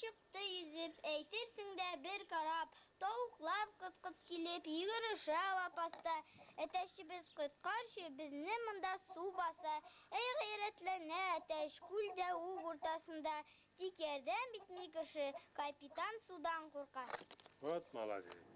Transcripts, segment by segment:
Чыкты йөзеп, әйтерсең дә бер кораб. Тавыклар кыт-кыт килеп, йөгерешә лапаста. Әтәчебез, коткарчы, безне монда су баса! Әй гайрәтләнә әтәч, күл дә уг уртасында. Тик ярдәм итми кеше, капитан судан курка. Вот молодец!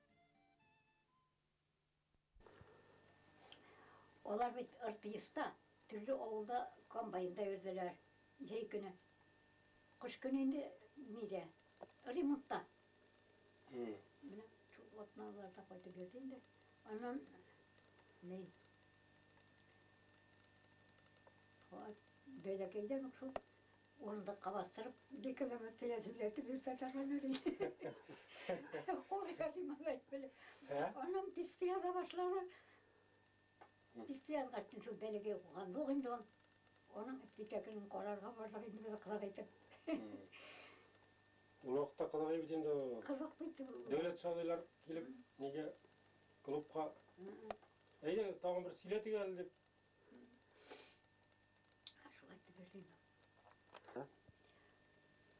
Алар бит РТИСта, төрле авылда комбайнда йөрделәр, җәй көне. Кыш көне инде нидә, ремонтта. Менә шул атналарда кайтып йөрде инде. Аннан ни, бәләкәйдән үк шул Урындыкка бастырып, деканова теләсүләтеп йөртә торганнар иде. Кул языйм алай белеп. Аннан писте яза башлады. Писте язгач, шул бәләкәй укыган юк инде ул. Аның спектаклен карарга бардык инде без кызык итеп. Ул вакытта кызык бит инде ул. Кызык бит ул. Дәүләт шагыйрьләр килеп, нигә клубка Әйдәгез, тагын бер сөйләтик әле дип,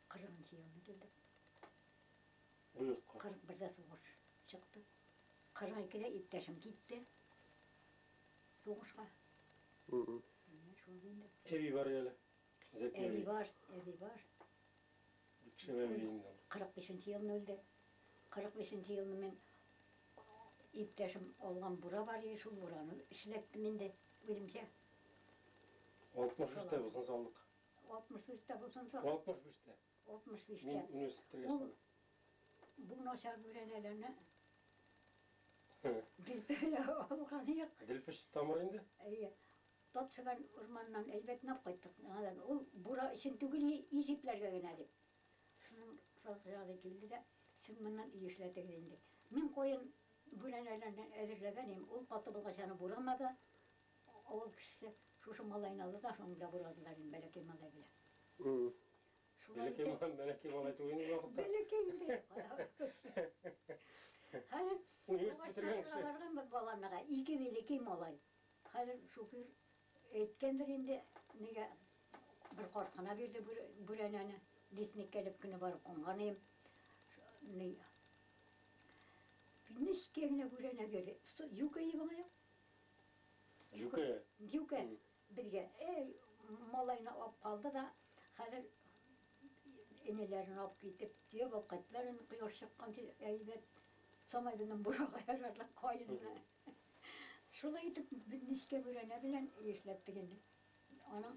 Кырыгынчы елны килдек. Бу якка. Кырык бердә сугыш чыкты. Кырык икедә иптәшем китте. Сугышка. Менә шул инде. Әби бар әле. Зәки әби. Әби бар, әби бар. Кичә әби инде. 45-нче елны үлде. 45-нче елны мин иптәшем алган бура бар иде, шул бураны эшләттем инде үземчә. 63-тә бусын салдык. 63-тә бусын салдык. 65-тә. 65-тә. Мин университетта яшәдем. Бу начар бүрәнәләрне Дилпә алган юк. Дилпеш тамыр инде? Әйе. Татсебән урманыннан әйбәт нап кайттык. Ул бура өчен түгел, ис ипләргә генә дип. Шуның салкын ялы килде дә, Сез моннан өй эшләтегез инде. Мин каен бүрәнәләрен әзерләгән идем, ул каты булгач, аны бурамады. Авыл кешесе шушы малайны алды да, шуның белән бурадылар инде, бәләкәй малай белән. Шулай итеп. Бәләкәй, бәләкәй малай түгел инде ул вакытта. Бәләкәй инде. Хәзер. Университет бетергән кеше. Барганбыз баланага, ике бәләкәй малай. Хәзер шуфер әйткәндер инде, нигә бер карт кына бирде бүрәнәне, лесникка элеп кенә барып кунган идем. Нечкә генә бүрәнә бирде. Җүкә иде моңа. Җүкә. Җүкә безгә эй малайны алып калды да, хәзер энеләрен алып китеп, төяп алып кайттылар, кояш чыккан әйбәт. Самайгыннан бурага ярарлык каенны. Шулай итеп, без нечкә бүрәнә белән эшләп тегендек. Аның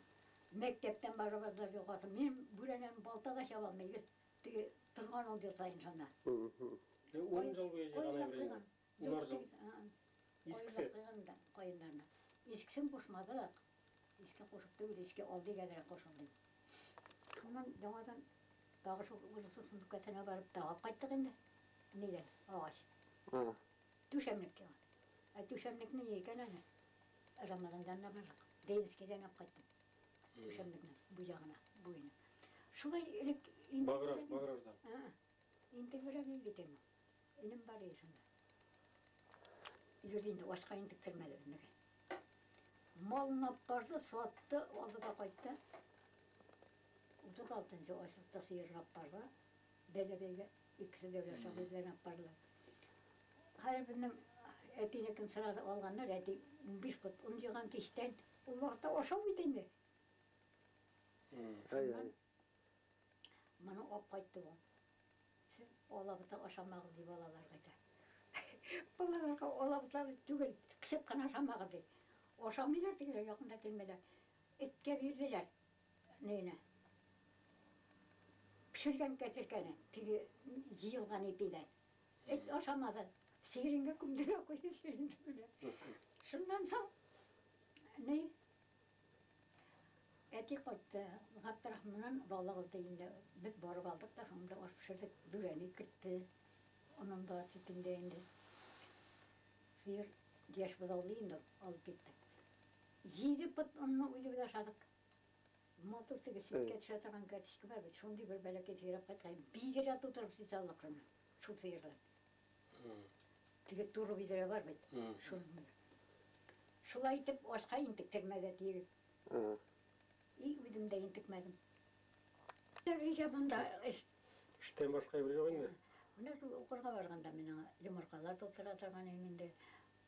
мәктәптән барыбыз да югасы. Мин бүрәнәне балта да чаба алмый идем, теге торган ут ясаен шунда. Ун ел буе җыйган әйбереңне? Унар ел? Искесе? Каеннарны. Искесен кушмадык. Иске кушып түгел, иске алдый әзрәк кушыйк дип. Шуннан яңадан тагы шул урысның сүмбкәсенә барып тагып кайттык инде. Нигә? Агач. Түшәмлек тә бар. Ә түшәмлекне ни икән әле? Рамазанда менә бардык. Ленинскийдан алып кайттым. Түшәмлекнең бу ягына, буена. Шулай элек инде. Баграж, Баграждан. Ә-ә. Интегрәк ил бит инде. Энем бар иде шунда. Йөрде инде, ашка интектермәде безнеке. Малын алып барды, сатты, алды да кайтты. Утыз алтынчы ай сутта сыер алып барды. Бәйләп-бәйләп, икесе дәүләт шагыйрьләрен актардылар. Хәер, безнең әтинекен сразу алганнар, әти унбиш пот он җыйган кичтән, ул вакытта ашау бит инде. Шуннан моны алып кайтты бу. Сез алабута ашамагыз, ди балаларга әйтә. Балаларга алабута түгел, кысып кына ашамагыз, ди. Ашамыйлар тегеләр, якын да килмиләр. Эткә бирделәр. Әнә-әнә. Пешергән кәзеркәне, теге җыелган ипидә. Эт ашамады. Сиреньгә күмде дә куйды, сиреньгә менә. Шуннан соң, ни, әти кайтты. Габдрахманнан бала алды инде. Без барып алдык та шунда аш пешердек. Бүрәнә кертте. Аннан да, сөтен дә инде. Сыер яшь бозаулый инде ул, алып киттек. Җиде пот онны үзе белән ашадык. Матур теге сөткә төшә торган кәртичкә бар бит, шундый бер бәләкәй сөйрәп кайткан. Бидрә тутырып сөт алдык шуннан, шул сыердан. Теге туры бидрә бар бит, шуның. Шулай итеп, ашка интек, тегмәгә тиеп. И үзем дә интекмәдем. Тегегә монда эш. Эштән башка эш юк инде. Менә шул укырга барганда мин аңа йомыркалар тутыра торган идем инде.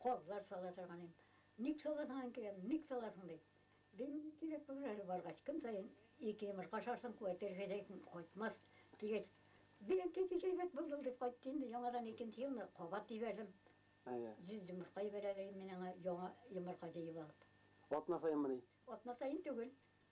Казлар сала торган идем. Ник саласың, әнкәем, ник саласың? ди. Дим, кирәк булыр әле баргач, көн саен ике йомырка ашарсың, куәте җитәсең, кайтмас, дигәч, бик әнкәй, бик әйбәт булды ул, дип кайтты инде. Яңадан икенче елны кабат җибәрдем. Йөз йомырка җибәрә, дидем мин аңа, яңа йомырка җыеп алып. Атна саенмыни? Атна саен түгел.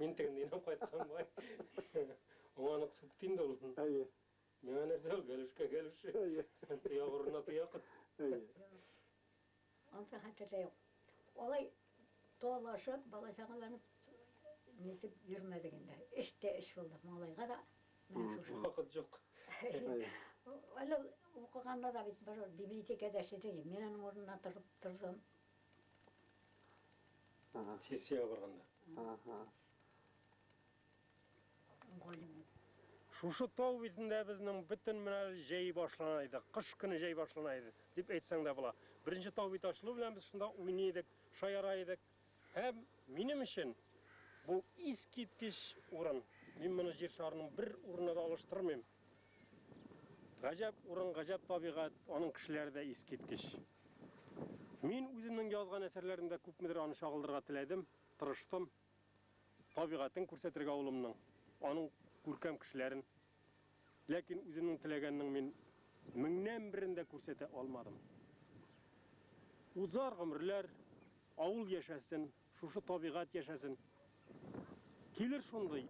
Мин тегенде инәм кайткан бай. Аңа анык сүтте инде ул. Әйе. Миңа нәрсә ул, гәлүшкә гәлүш. Әйе. Тояк урынына тояк. Әйе. Ансы хәтердә юк. Алай талашып, бала-чагаларны нитеп йөрмәдек инде. Эш тә эш булдык, малайга да менә шушы. Вакыт юк. Әле укыганда да бит берүр библиотекада эшләде. Мин аның урынына торып тордым. Ага. Сессиягә барганда. Ага. Галимнәр. Шушы тау битендә безнең бөтен менә җәй башлана иде. Кыш көне җәй башлана иде, дип әйтсәң дә була. Беренче тау бите ачылу белән без шунда уйный идек, шаяра идек. Һәм минем өчен бу искиткеч урын. Мин моны җир шарының бер урынына да алыштырмыйм. Гаҗәп урын, гаҗәп табигать, аның кешеләре дә искиткеч. Мин үземнең язган әсәрләремдә күпмедер аны чагылдырырга теләдем, тырыштым. Табигатен күрсәтергә авылымның, аның күркәм кешеләрен. Ләкин үземнең теләгәннең мин меңнән берен дә күрсәтә алмадым. Узар гомерләр, авыл яшәсен. Шушы табигать яшәсен. Килер шундый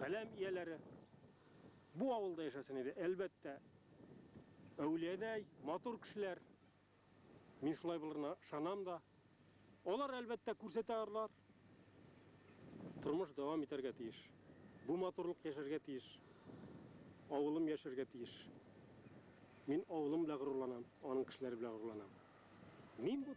каләм ияләре, бу авылда яшәсен иде, әлбәттә, әүлиядәй, матур кешеләр, мин шулай булырына ышанам да. Алар, әлбәттә, күрсәтә арлар. Тормыш дәвам итәргә тиеш. Бу матурлык яшәргә тиеш. Авылым яшәргә тиеш. Мин авылым белән горурланам, аның кешеләре белән горурланам. Мин бу.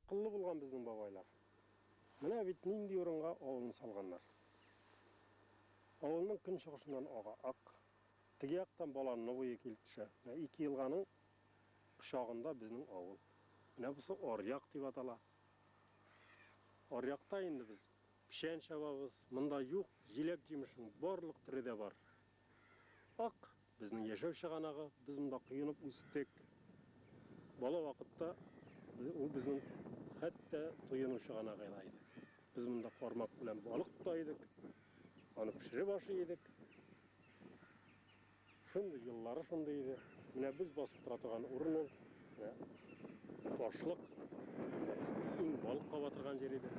Акыллы булган безнең бабайлар. Менә бит нинди урынга авылны салганнар. Авылның көнчыгышыннан ага Ак, теге яктан Баланны буе килеп төшә. Менә ике елганың кочагында безнең авыл. Менә бусы Аръяк дип атала. Аръякта инде без печән чабабыз. Монда юк, җиләк-җимешнең барлык төре дә бар. Ак, безнең яшәү чыганагы, без монда коенып үстек. Бала вакытта ул безнең хәтта туену чыганагы да иде. Без монда кармак белән балык тота идек, аны пешереп ашый идек. Шундый еллары шундый иде. Менә без басып тора торган урын ул. Менә ташлык. Иң балыкка батырган җир иде.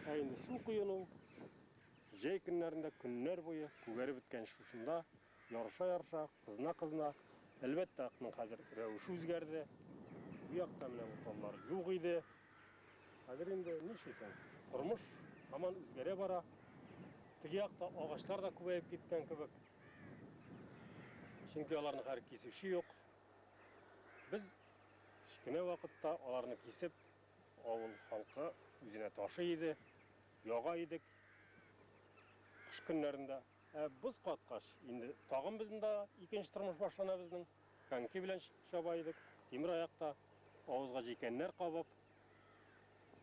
Ә инде су коену, Җәй көннәрендә көннәр буе күгәреп беткән шушында, ярыша-ярыша, кызына-кызына, әлбәттә, атның хәзер рәвеше үзгәрде. Бу якта менә бу таллар юк иде. Хәзер инде нишлисең, тормыш һаман үзгәрә бара. Теге якта агачлар да күбәеп киткән кебек. Чөнки аларны хәзер кисүче юк. Без кечкенә вакытта аларны кисеп, авыл халкы үзенә ташый иде. Яга идек кыш көннәрендә. Ә боз каткач, инде тагын безнең дә икенче тормыш башлана безнең. Коньки белән чаба идек, тимер аякта, авызга җилкәннәр кабып,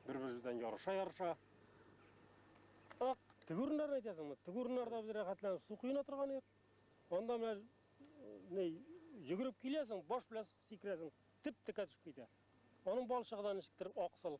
бер-беребездән ярыша-ярыша. Ак, теге урыннарны әйтәсеңме? Теге урыннарда без рәхәтләнеп су коена торган идек. Анда менә ни, йөгереп киләсең, баш белән сикерәсең, теп-текә төшеп китә. Аның балчыгы да ничектер аксыл.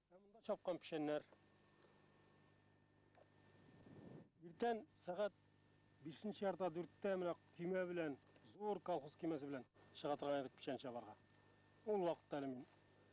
Ә монда чапкан печәннәр. Иртән сәгать бишенче ярта дүрттә менә көймә белән, зур колхоз көймәсе белән чыга торган идек печән чабарга. Ул вакытта әле мин